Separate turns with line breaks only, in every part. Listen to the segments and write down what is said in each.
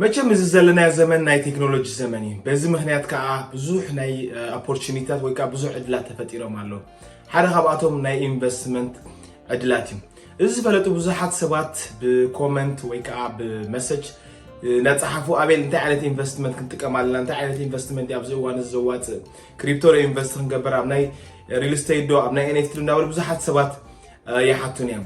መቸም እዚ ዘለናዮ ዘመን ናይ ቴክኖሎጂ ዘመን እዩ በዚ ምክንያት ከዓ ብዙሕ ናይ ኦፖርቹኒታት ወይ ከዓ ብዙሕ ዕድላት ተፈጢሮም ኣለዉ ሓደ ካብኣቶም ናይ ኢንቨስትመንት ዕድላት እዩ እዚ ዝፈለጡ ብዙሓት ሰባት ብኮመንት ወይ ከዓ ብመሰጅ ናፀሓፉ ኣቤል እንታይ ዓይነት ኢንቨስትመንት ክንጥቀም ኣለና እንታይ ዓይነት ኢንቨስትመንት ኣብዚ እዋን እዚ ዘዋፅእ ክሪፕቶ ዶ ኢንቨስት ክንገብር ኣብ ናይ ሪል ስቴት ዶ ኣብ ናይ ኤንኤፍቲ ዶ እናበሉ ብዙሓት ሰባት ይሓቱን እዮም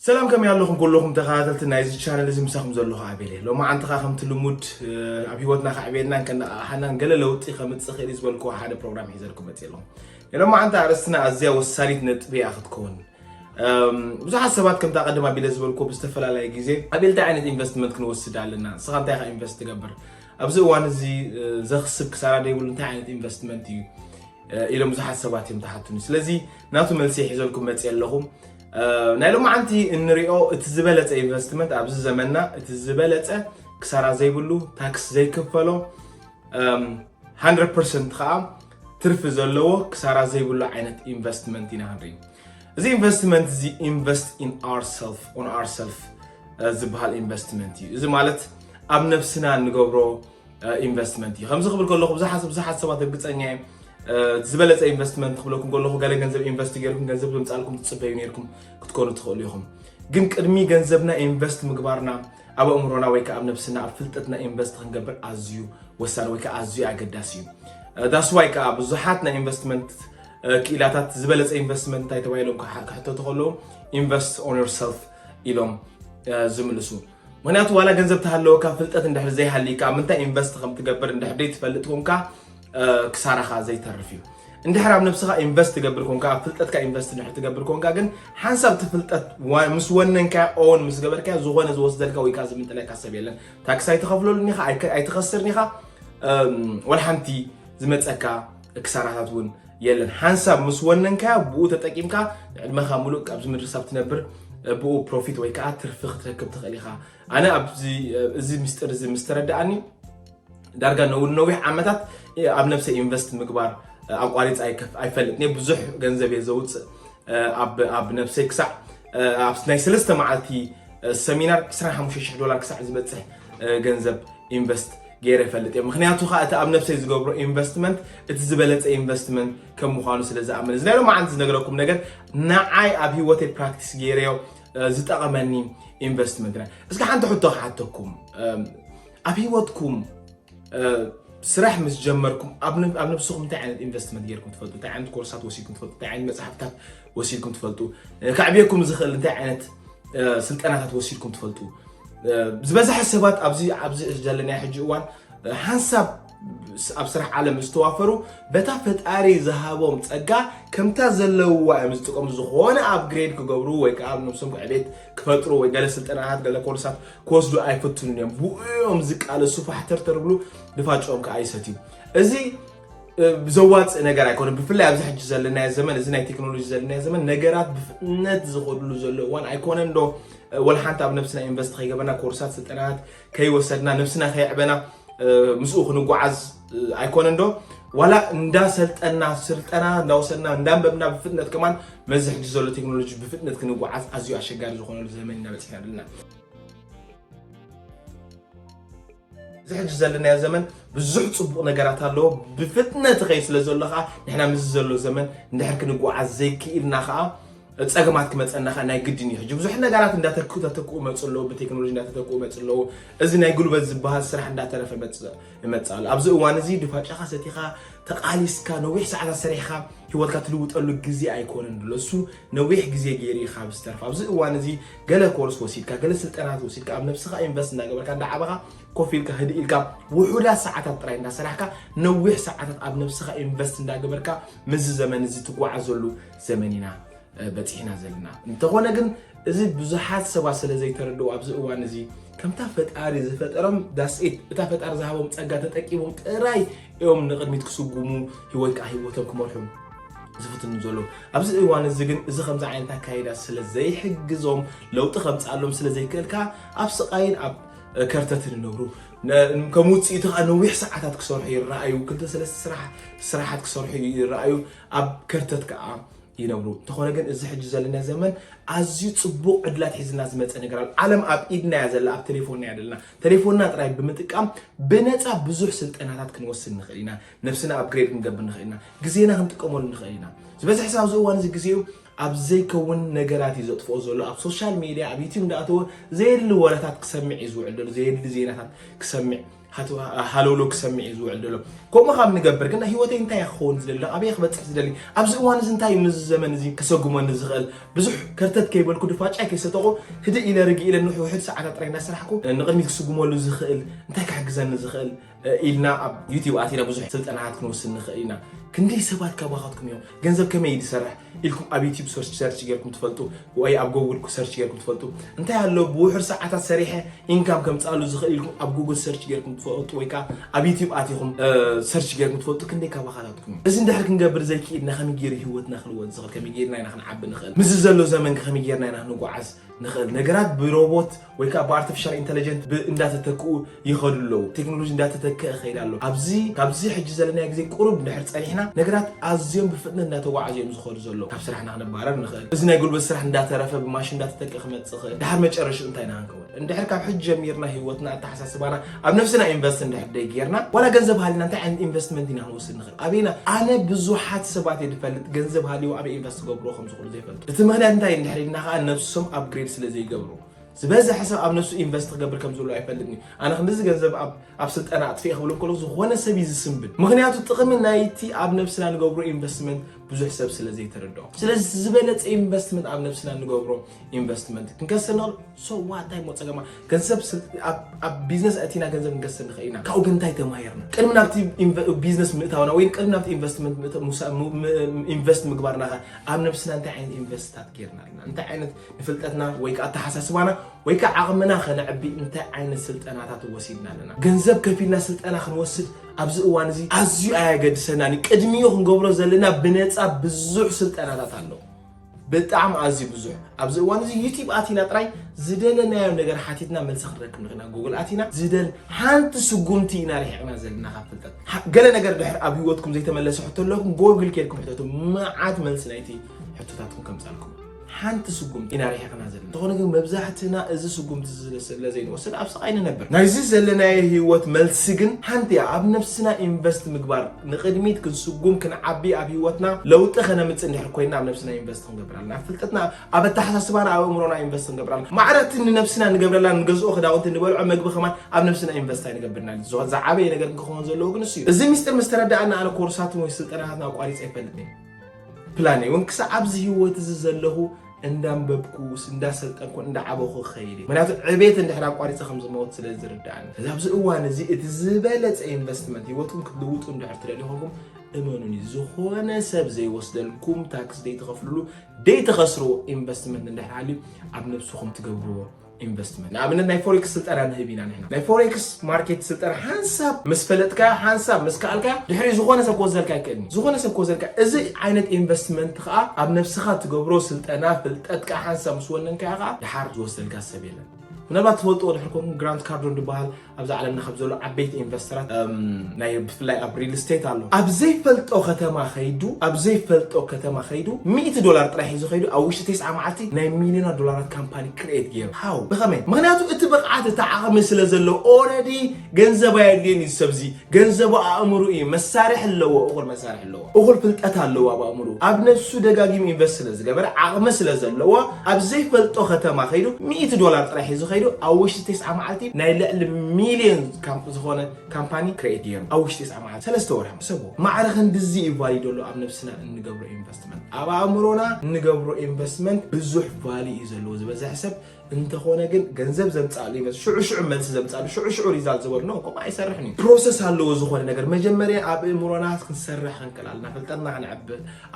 ሰላም ከመይ ኣለኹም ኩሉኹም ተኸታተልቲ ናይዚ ቻነል እዚ ምሳኹም ዘለኹ ኣቤል እየ ሎማዓንቲ ኸዓ ከምቲ ልሙድ ኣብ ሂወትና ከዕብየናን ከነቓቕሓናን ገለ ለውጢ ከምፅእ ኽእል እዩ ዝበልክዎ ሓደ ፕሮግራም ሒዘልኩም መፅየ ኣለኹ ናይ ሎማዓንቲ ኣርእስትና ኣዝያ ወሳኒት ነጥቢ እያ ክትከውን ብዙሓት ሰባት ከምታ ቀደም ኣቢለ ዝበልኩ ብዝተፈላለየ ግዜ ኣቤል እንታይ ዓይነት ኢንቨስትመንት ክንወስድ ኣለና ንስኻ እንታይ ኢኻ ኢንቨስት ትገብር ኣብዚ እዋን እዚ ዘኽስብ ክሳራ ደይብሉ እንታይ ዓይነት ኢንቨስትመንት እዩ ኢሎም ብዙሓት ሰባት እዮም ተሓቱኒ ስለዚ ናቱ መልሲ ሒዘልኩም መፅየ ኣለኹ ናይ ሎማዓንቲ እንሪኦ እቲ ዝበለፀ ኢንቨስትመንት ኣብዚ ዘመንና እቲ ዝበለፀ ክሳራ ዘይብሉ ታክስ ዘይክፈሎ 100 ከዓ ትርፊ ዘለዎ ክሳራ ዘይብሉ ዓይነት ኢንቨስትመንት ኢና ንርኢ እዚ ኢንቨስትመንት እዚ ኢንቨስት ኢን ኣርሰልፍ ኦን ኣርሰልፍ ዝበሃል ኢንቨስትመንት እዩ እዚ ማለት ኣብ ነብስና እንገብሮ ኢንቨስትመንት እዩ ከምዚ ክብል ከለኹ ብዙሓት ብዙሓት ሰባት እርግፀኛ እየ ዝበለፀ ኢንቨስትመንት ክብለኩም ከለኹ ገለ ገንዘብ ኢንቨስት ገይርኩም ገንዘብ ብምፃልኩም ትፅበዩ ነርኩም ክትኮኑ ትኽእሉ ኢኹም ግን ቅድሚ ገንዘብና ኢንቨስት ምግባርና ኣብ ኣእምሮና ወይ ከዓ ኣብ ነብስና ኣብ ፍልጠትና ኢንቨስት ክንገብር ኣዝዩ ወሳኒ ወይ ከዓ ኣዝዩ ኣገዳሲ እዩ ዳስዋይ ከዓ ብዙሓት ናይ ኢንቨስትመንት ክኢላታት ዝበለፀ ኢንቨስትመንት እንታይ ተባሂሎም ክሕተቱ ከለዉ ኢንቨስት ኦን ዮርሰልፍ ኢሎም ዝምልሱ ምክንያቱ ዋላ ገንዘብ ተሃለወካ ፍልጠት እንድሕር ዘይሃልይካ ኣብ ምንታይ ኢንቨስት ከም ትገብር እንድሕር ዘይትፈልጥ ኮንካ ክሳራኻ ዘይተርፍ እዩ እንድሕር ኣብ ነብስኻ ኢንቨስት ትገብር ኮንካ ኣብ ፍልጠትካ ኢንቨስት እንድሕር ትገብር ኮንካ ግን ሓንሳብ እቲ ፍልጠት ምስ ወነንካ ኦን ምስ ገበርካ ዝኾነ ዝወስደልካ ወይ ከዓ ዝምንጥለካ ሰብ የለን ታክሲ ኣይትኸፍለሉን ኢኻ ኣይትኸስርን ኢኻ ወላ ሓንቲ ዝመፀካ ክሳራታት እውን የለን ሓንሳብ ምስ ወነንካዮ ብኡ ተጠቂምካ ዕድመኻ ሙሉእ ካብዚ ምድሪ ሳብ ትነብር ብኡ ፕሮፊት ወይ ከዓ ትርፊ ክትረክብ ትኽእል ኢኻ ኣነ እዚ ምስጢር እዚ ምስ ተረዳኣኒ ዳርጋ ነዊሕ ዓመታት ኣብ ነብሰ ኢንቨስት ምግባር ኣቋሪፅ ኣይፈልጥ ብዙሕ ገንዘብ እየ ዘውፅእ ኣብ ነብሰይ ክሳዕ ናይ ሰለስተ መዓልቲ ሰሚናር 25 ዶላር ክሳዕ ዝበፅሕ ገንዘብ ኢንቨስት ገይረ እፈልጥ እየ ምክንያቱ ከዓ እቲ ኣብ ነብሰይ ዝገብሮ ኢንቨስትመንት እቲ ዝበለፀ ኢንቨስትመንት ከም ምኳኑ ስለ ዝኣምን እዚ ናይ ሎማዓንቲ ዝነገረኩም ነገር ንዓይ ኣብ ሂወተይ ፕራክቲስ ገይረዮ ዝጠቐመኒ ኢንቨስትመንት ና እስኪ ሓንቲ ሕቶ ክሓተኩም ኣብ ሂወትኩም ስራሕ ምስ ጀመርኩም ኣብ ነብስኹም እንታይ ዓይነት ኢንቨስትመንት ጌርኩም ትፈልጡ እንታይ ዓይነት ኮርሳት ወሲድኩም ትፈልጡ እንታይ ዓይነት መፅሓፍታት ወሲድኩም ትፈልጡ? ከዕብየኩም ዝኽእል እንታይ ዓይነት ስልጠናታት ወሲድኩም ትፈልጡ? ዝበዝሐ ሰባት ኣብዚ ኣብዚ ዘለናዮ ሕጂ እዋን ሓንሳብ ኣብ ስራሕ ዓለም ዝተዋፈሩ በታ ፈጣሪ ዝሃቦም ፀጋ ከምታ ዘለውዋ እዮም ዝጥቀሙ ዝኾነ ኣብ ግሬድ ክገብሩ ወይ ከዓ ኣብ ነብሶም ዕቤት ክፈጥሩ ወይ ገለ ስልጠናታት ገለ ኮርሳት ክወስዱ ኣይፈትኑን እዮም ብኡ እዮም ዝቃለሱ ፋሕተርተር ብሉ ድፋጮም ከዓ ይሰትዩ እዚ ዘዋፅእ ነገር ኣይኮነ ብፍላይ ኣብዚ ሕጂ ዘለናዮ ዘመን እዚ ናይ ቴክኖሎጂ ዘለናዮ ዘመን ነገራት ብፍጥነት ዝኸድሉ ዘሎ እዋን ኣይኮነን ዶ ወላ ሓንቲ ኣብ ነብስና ኢንቨስት ከይገበርና ኮርሳት ስልጠናት ከይወሰድና ነብስና ከየዕበና ምስኡ ክንጓዓዝ ኣይኮነን ዶ ዋላ እንዳሰልጠና ስልጠና እንዳወሰድና እንዳንበብና ብፍጥነት ከማን መዚ ሕጂ ዘሎ ቴክኖሎጂ ብፍጥነት ክንጓዓዝ ኣዝዩ ኣሸጋሪ ዝኾነሉ ዘመን ኢና በፂሕና ኣለና እዚ ሕጂ ዘለናዮ ዘመን ብዙሕ ጽቡቕ ነገራት ኣለዎ ብፍጥነት ኸይ ስለ ዘሎ ከዓ ንሕና ምስዚ ዘሎ ዘመን ንድሕር ክንጓዓዝ ዘይክኢልና ከዓ ፀገማት ክመፀና ከዓ ናይ ግድን እዩ ሕጂ ብዙሕ ነገራት እንዳተተክኡ መፅ ኣለዎ ብቴክኖሎጂ እንዳተተክኡ መፅ ኣለዎ እዚ ናይ ጉልበት ዝበሃል ስራሕ እንዳተረፈ መፅ ኣሎ ኣብዚ እዋን እዚ ድፋጫኻ ሰቲኻ ተቃሊስካ ነዊሕ ሰዓታት ሰሪሕኻ ሂወትካ ትልውጠሉ ግዜ ኣይኮነን ብሎ እሱ ነዊሕ ግዜ ገይሩ እዩ ካብ ዝተርፍ ኣብዚ እዋን እዚ ገለ ኮርስ ወሲድካ ገለ ስልጠናት ወሲድካ ኣብ ነብስኻ ኢንቨስት እንዳገበርካ እንዳዓበኻ ኮፍ ኢልካ ህድእ ኢልካ ውሑዳት ሰዓታት ጥራይ እንዳሰራሕካ ነዊሕ ሰዓታት ኣብ ነብስኻ ኢንቨስት እንዳገበርካ ምስዚ ዘመን እዚ ትጓዓዘሉ ዘመን ኢና በፂሕና ዘለና እንተኾነ ግን እዚ ብዙሓት ሰባት ስለ ዘይተረድኡ ኣብዚ እዋን እዚ ከምታ ፈጣሪ ዝፈጠሮም ዳስኢት እታ ፈጣሪ ዝሃቦም ፀጋ ተጠቂሞም ጥራይ እዮም ንቅድሚት ክስጉሙ ሂወት ከዓ ሂወቶም ክመርሑ ዝፍትኑ ዘሎ ኣብዚ እዋን እዚ ግን እዚ ከምዚ ዓይነት ኣካይዳ ስለ ዘይሕግዞም ለውጢ ከምፅኣሎም ስለ ዘይክእል ከዓ ኣብ ስቃይን ኣብ ከርተትን ይነብሩ ከም ውፅኢቱ ከዓ ነዊሕ ሰዓታት ክሰርሑ ይረኣዩ ክልተ ሰለስተ ስራሕ ስራሓት ክሰርሑ ይረኣዩ ኣብ ከርተት ከዓ ይነብሩ እንተኾነ ግን እዚ ሕጂ ዘለና ዘመን ኣዝዩ ፅቡቅ ዕድላት ሒዝና ዝመፀ ነገር ኣሎ ዓለም ኣብ ኢድና እያ ዘላ ኣብ ቴሌፎንና እያ ዘለና ቴሌፎንና ጥራይ ብምጥቃም ብነፃ ብዙሕ ስልጠናታት ክንወስድ ንኽእል ኢና ነብስና ኣፕግሬድ ክንገብር ንኽእል ኢና ግዜና ክንጥቀመሉ ንኽእል ኢና ዝበዝሕ ሰብ ኣብዚ እዋን እዚ ግዜኡ ኣብ ዘይከውን ነገራት እዩ ዘጥፍኦ ዘሎ ኣብ ሶሻል ሜድያ ኣብ ዩትብ እንዳኣተወ ዘየድሊ ወረታት ክሰምዕ እዩ ዝውዕል ዘሎ ዘየድሊ ዜናታት ክሰምዕ ሃለውሎ ክሰምዕ እዩ ዝውዕል ዘሎ ከምኡ ካብ ንገብር ግን ሂወተይ እንታይ እያ ክኸውን ዝደሊ ኣበየ ክበፅሕ ዝደሊ ኣብዚ እዋን እዚ እንታይ እዩ ምዚ ዘመን እዚ ከሰጉመኒ ዝኽእል ብዙሕ ከርተት ከይበልኩ ድፋጫይ ከይሰጠቑ ህድእ ኢለ ርግ ኢለ ንውሕድ ሰዓታት ጥራይ እንዳሰራሕኩ ንቕድሚት ክስጉመሉ ዝኽእል እንታይ ክሕግዘኒ ዝኽእል ኢልና ኣብ ዩቲብ ኣቲና ብዙሕ ስልጠናታት ክንወስድ ንኽእል ኢና ክንደይ ሰባት ካባኻትኩም እዮም ገንዘብ ከመይ እዩ ዝሰርሕ ኢልኩም ኣብ ዩቲብ ሰርች ጌርኩም ትፈልጡ ወይ ኣብ ጎግል ሰርች ጌርኩም ትፈልጡ እንታይ ኣሎ ብውሑድ ሰዓታት ሰሪሐ ኢንካም ከምፃሉ ዝኽእል ኢልኩም ኣብ ጉግል ሰርች ጌርኩም ትፈልጡ ወይ ከዓ ኣብ ዩቲብ ኣቲኹም ሰርች ጌርኩም ትፈልጡ ክንደይ ካባኻታትኩም እዩ እዚ እንድሕር ክንገብር ዘይክኢልና ከመይ ገይሩ ሂወትና ክልወጥ ዝኽእል ከመይ ገይርና ኢና ክንዓቢ ንኽእል ምስዚ ዘሎ ዘመን ከመይ ገይርና ኢና ክንጓዓዝ ንኽእል ነገራት ብሮቦት ወይ ከዓ ብኣርቲፊሻል ኢንተለጀንት እንዳተተክኡ ይኸዱ ኣለዉ ቴክኖሎጂ እንዳተተክአ ይኸይድ ኣሎ ኣብዚ ካብዚ ሕጂ ዘለናዮ ግዜ ቁሩብ ድሕር ፀኒሕና ነገራት ኣዝዮም ብፍጥነት እንዳተጓዓዙ እዮም ዝኸዱ ዘለዉ ካብ ስራሕና ክንባረር ንኽእል እዚ ናይ ጉልበት ስራሕ እንዳተረፈ ብማሽን እንዳተተክአ ክመፅእ ይኽእል ድሓር መጨረሽኡ እንታይ ኢና ክንከውን እንድሕር ካብ ሕጂ ጀሚርና ሂወትና ኣተሓሳስባና ኣብ ነፍስና ኢንቨስት እንድሕር ደይጌርና ዋላ ገንዘብ ሃሊና እንታይ ዓይነት ኢንቨስትመንት ኢና ክንወስድ ንኽእል ኣበይና ኣነ ብዙሓት ሰባት እየ ዝፈልጥ ገንዘብ ሃልዩ ኣበይ ኢንቨስት ገብሮ ከም ዝኽእሉ ዘይፈልጡ እቲ ምክንያት እንታይ እንድሕር ኢልና ከዓ ነብሶም ኣብግሬድ ስለ ዘይገብሩ ዝበዝሐ ሰብ ኣብ ነሱ ኢንቨስት ክገብር ከም ዘሎ ኣይፈልጥን እዩ ኣነ ክንዲዚ ገንዘብ ኣብ ስልጠና ኣጥፍኤ ክብሎ ከሎ ዝኾነ ሰብ እዩ ዝስንብድ ምክንያቱ ጥቕሚ ናይቲ ኣብ ነብስና ንገብሮ ኢንቨስትመንት ብዙሕ ሰብ ስለ ዘይተረድኦ ስለዚ ዝበለፀ ኢንቨስትመንት ኣብ ነብስና ንገብሮ ኢንቨስትመንት ክንከስር ንኽእል ሰዋ እንታይ ሞ ፀገማ ገንዘብ ኣብ ቢዝነስ ኣእቲና ገንዘብ ክንከስር ንኽእል ኢና ካብኡ ግን እንታይ ተማሂርና ቅድሚ ናብቲ ቢዝነስ ምእታውና ወይ ቅድሚ ናብቲ ኢንቨስትመንት ኢንቨስት ምግባርና ኣብ ነብስና እንታይ ዓይነት ኢንቨስትታት ጌርና ኣለና እንታይ ዓይነት ፍልጠትና ወይ ከዓ ኣተሓሳስባና ወይ ከዓ ዓቕምና ከነዕቢ እንታይ ዓይነት ስልጠናታት ወሲድና ኣለና? ገንዘብ ከፊልና ስልጠና ክንወስድ ኣብዚ እዋን እዚ ኣዝዩ ኣየገድሰናን እዩ። ቅድሚኡ ክንገብሮ ዘለና ብነፃ ብዙሕ ስልጠናታት ኣሎ። ብጣዕሚ ኣዝዩ ብዙሕ ኣብዚ እዋን እዚ ዩቲብ ኣቲና ጥራይ ዝደለናዮ ነገር ሓቲትና መልሲ ክንረክብ ንኽእና ጉግል ኣቲና ዝደል ሓንቲ ስጉምቲ ኢና ርሒቕና ዘለና ካብ ፍልጠት ገለ ነገር ድሕር ኣብ ህይወትኩም ዘይተመለሰ ሕቶ ኣለኩም ጎግል ኬድኩም ሕተቱ መዓት መልሲ ናይቲ ሕቶታትኩም ከምፃልኩም ሓንቲ ስጉምቲ ኢና ርሒቕና ዘለና እንተኾነ ግን መብዛሕትና እዚ ስጉምቲ ስለ ዘይንወስድ ኣብ ስቓይ ንነብር ናይዚ ዘለናዮ ህይወት መልሲ ግን ሓንቲ እያ ኣብ ነብስና ኢንቨስት ምግባር ንቕድሚት ክንስጉም ክንዓቢ ኣብ ህይወትና ለውጢ ከነምፅእ እንድሕር ኮይና ኣብ ነብስና ኢንቨስት ክንገብር ኣለና ኣብ ፍልጠትና ኣብ ኣተሓሳስባና ኣብ እምሮና ኢንቨስት ክንገብር ኣለና ማዕረቲ ንነብስና ንገብረላ ንገዝኦ ክዳውንቲ ንበልዖ መግቢ ከማን ኣብ ነብስና ኢንቨስት ኣይንገብርና ዝዓበየ ነገር ክኸውን ዘለዎ ግን እሱ እዩ እዚ ሚስጢር ምስ ተረዳእና ኣነ ኮርሳትን ወይ ስልጠናታትና ኣቋሪፀ ኣይፈልጥን ፕላነይ እውን ክሳዕ ኣብዚ ህይወት እዚ ዘለኹ እንዳንበብኩስ እንዳሰልጠንኩ እንዳዓበኹ ክኸይድ ምክንያቱ ዕቤት እንድሕር ኣቋሪፀ ከም ዝመወት ስለ ዝርዳእኒ እዚ ኣብዚ እዋን እዚ እቲ ዝበለፀ ኢንቨስትመንት ሂወትኩም ክትልውጡ እንድሕር ትደልዩ ኮንኩም እመኑኒ ዝኾነ ሰብ ዘይወስደልኩም ታክስ ደይትኸፍልሉ ደይትኸስርዎ ኢንቨስትመንት እንድሕር ሃልዩ ኣብ ነብስኹም ትገብርዎ ኢንቨስትመንት ንኣብነት ናይ ፎሬክስ ስልጠና ንህብ ኢና ንሕና ናይ ፎሬክስ ማርኬት ስልጠና ሓንሳብ ምስ ፈለጥካዮ ሓንሳብ ምስ ከኣልካዮ ድሕሪ ዝኾነ ሰብ ክወስደልካ ይክእል እዩ ዝኾነ ሰብ ክወስደልካ እዚ ዓይነት ኢንቨስትመንት ከዓ ኣብ ነብስኻ ትገብሮ ስልጠና ፍልጠትካ ሓንሳብ ምስ ወነንካዮ ከዓ ድሓር ዝወስደልካ ሰብ የለን ምናልባት ትፈልጥዎ ድሕር ኮንኩም ግራንት ካርዶን ዝበሃል ኣብዚ ዓለምና ካብ ዘሎ ዓበይቲ ኢንቨስተራት ናይ ብፍላይ ኣብ ሪል ስቴት ኣሎ ኣብ ዘይፈልጦ ከተማ ከይዱ ኣብ ዘይፈልጦ ከተማ ከይዱ ሚእቲ ዶላር ጥራይ ሒዙ ከይዱ ኣብ ውሽጢ ተስዓ መዓልቲ ናይ ሚሊዮና ዶላራት ካምፓኒ ክርኤት ገይሩ ሃው ብኸመይ ምክንያቱ እቲ ብቕዓት እቲ ዓቕሚ ስለ ዘለዎ ኦረዲ ገንዘብ ኣየድልዮን እዩ ሰብዚ ገንዘቡ ኣእምሩ እዩ መሳርሒ ኣለዎ እኹል መሳርሒ ኣለዎ እኹል ፍልጠት ኣለዎ ኣብ ኣእምሩ ኣብ ነብሱ ደጋጊሙ ኢንቨስት ስለ ዝገበረ ዓቕሚ ስለ ዘለዎ ኣብ ዘይፈልጦ ከተማ ከይዱ ሚእቲ ዶላር ጥራይ ሒዙ ከይዱ ኣብ ውሽጢ ቴስዓ መዓልቲ ናይ ልዕሊ ሚልዮን ዝኾነ ካምፓኒ ክሬት ገይሩ ኣብ ውሽጢ ቴስዓ መዓልቲ ሰለስተ ወርሒ ሰቦ ማዕረ ክንድዚ እዩ ቫልዩ ደሎ ኣብ ነብስና እንገብሮ ኢንቨስትመንት ኣብ ኣእምሮና እንገብሮ ኢንቨስትመንት ብዙሕ ቫልዩ እዩ ዘለዎ ዝበዝሐ ሰብ እንተኾነ ግን ገንዘብ ዘምፅኣሉ ይመስል ሽዑ ሽዑ መልሲ ዘምፅኣሉ ሽዑ ሽዑ ሪዛልት ዝበርኖ ከምኡ ኣይሰርሕን እዩ ፕሮሰስ ኣለዎ ዝኾነ ነገር መጀመርያ ኣብ እእምሮና ክንሰርሕ ክንክእል ኣለና ፍልጠትና ክንዕብ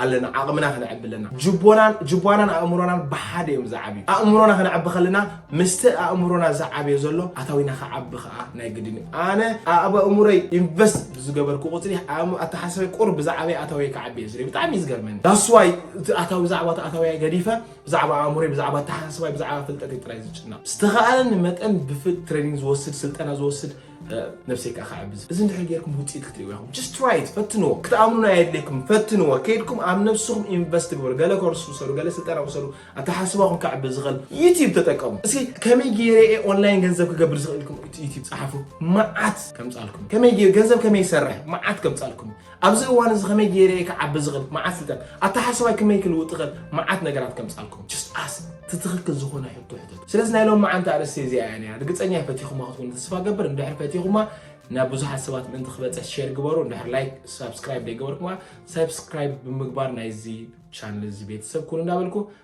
ኣለና ዓቕምና ክንዕብ ኣለና ጅቦናን ጅቧናን ኣእምሮናን ብሓደ እዮም ዝዓብዩ ኣእምሮና ክንዕብ ከለና ምስቲ ኣእምሮና ዝዓብዮ ዘሎ ኣታዊና ክዓቢ ከዓ ናይ ግድን እዩ ኣነ ኣብ ኣእምሮይ ኢንቨስት ብዝገበርኩ ቁፅሪ ኣተሓሳሰበይ ቁር ብዛዕበይ ኣታዊ ክዓቢ እየ ዝርኢ ብጣዕሚ እዩ ዝገርመኒ ዳስዋይ እቲ ኣታዊ ዛዕባ እቲ ኣታዊ ገዲፈ ብዛዕባ ኣእምሮይ ብዛዕባ ኣተሓሳስባይ ብዛዕባ ፍልጠተይ ጥራይ ዝጭነቕ ዝተኸኣለኒ መጠን ብፍል ትሬኒንግ ዝወስድ ስልጠና ዝወስድ ነብሰይ ከዓ ክዕብዝ እዚ እንድሕር ጌርኩም ውፅኢት ክትሪእዎ ኢኹም ጀስት ትራይት ፈትንዎ ክትኣምኑና የድልየኩም ፈትንዎ ከይድኩም ኣብ ነብስኹም ኢንቨስት ግበሩ ገለ ኮርስ ውሰዱ ገለ ስልጠና ውሰዱ ኣተሓስባኹም ክዕብዝ ዝኽእል ዩቲብ ተጠቀሙ እስኪ ከመይ ገይረ እየ ኦንላይን ገንዘብ ክገብር ዝኽእል ኢልኩም ዩቲብ ፀሓፉ መዓት ከምፃልኩም ከመይ ገንዘብ ከመይ ይሰርሕ መዓት ከምፃልኩም ኣብዚ እዋን እዚ ከመይ ገይረ እየ ክዓቢ ዝኽእል መዓት ስልጠን ኣተሓሳባይ ክመይ ክልውጥ ይኽእል መዓት ነገራት ከምፃልኩም ጅስት ኣስ እቲ ትኽክል ዝኾነ ሕቶ ሕተት ስለዚ ናይ ሎም መዓንቲ ኣርእስቲ እዚኣ እያ ነያ ርግፀኛ እየ ፈቲኹማ ክትኮኑ ተስፋ ገብር እንድሕር ፈቲኹማ ናብ ብዙሓት ሰባት ምእንቲ ክበፅሕ ሼር ግበሩ እንድሕር ላይክ ሳብስክራይብ ዘይገበርኩማ ሳብስክራይብ ብምግባር ናይዚ ቻነል እዚ ቤተሰብ ኩኑ እንዳበልኩ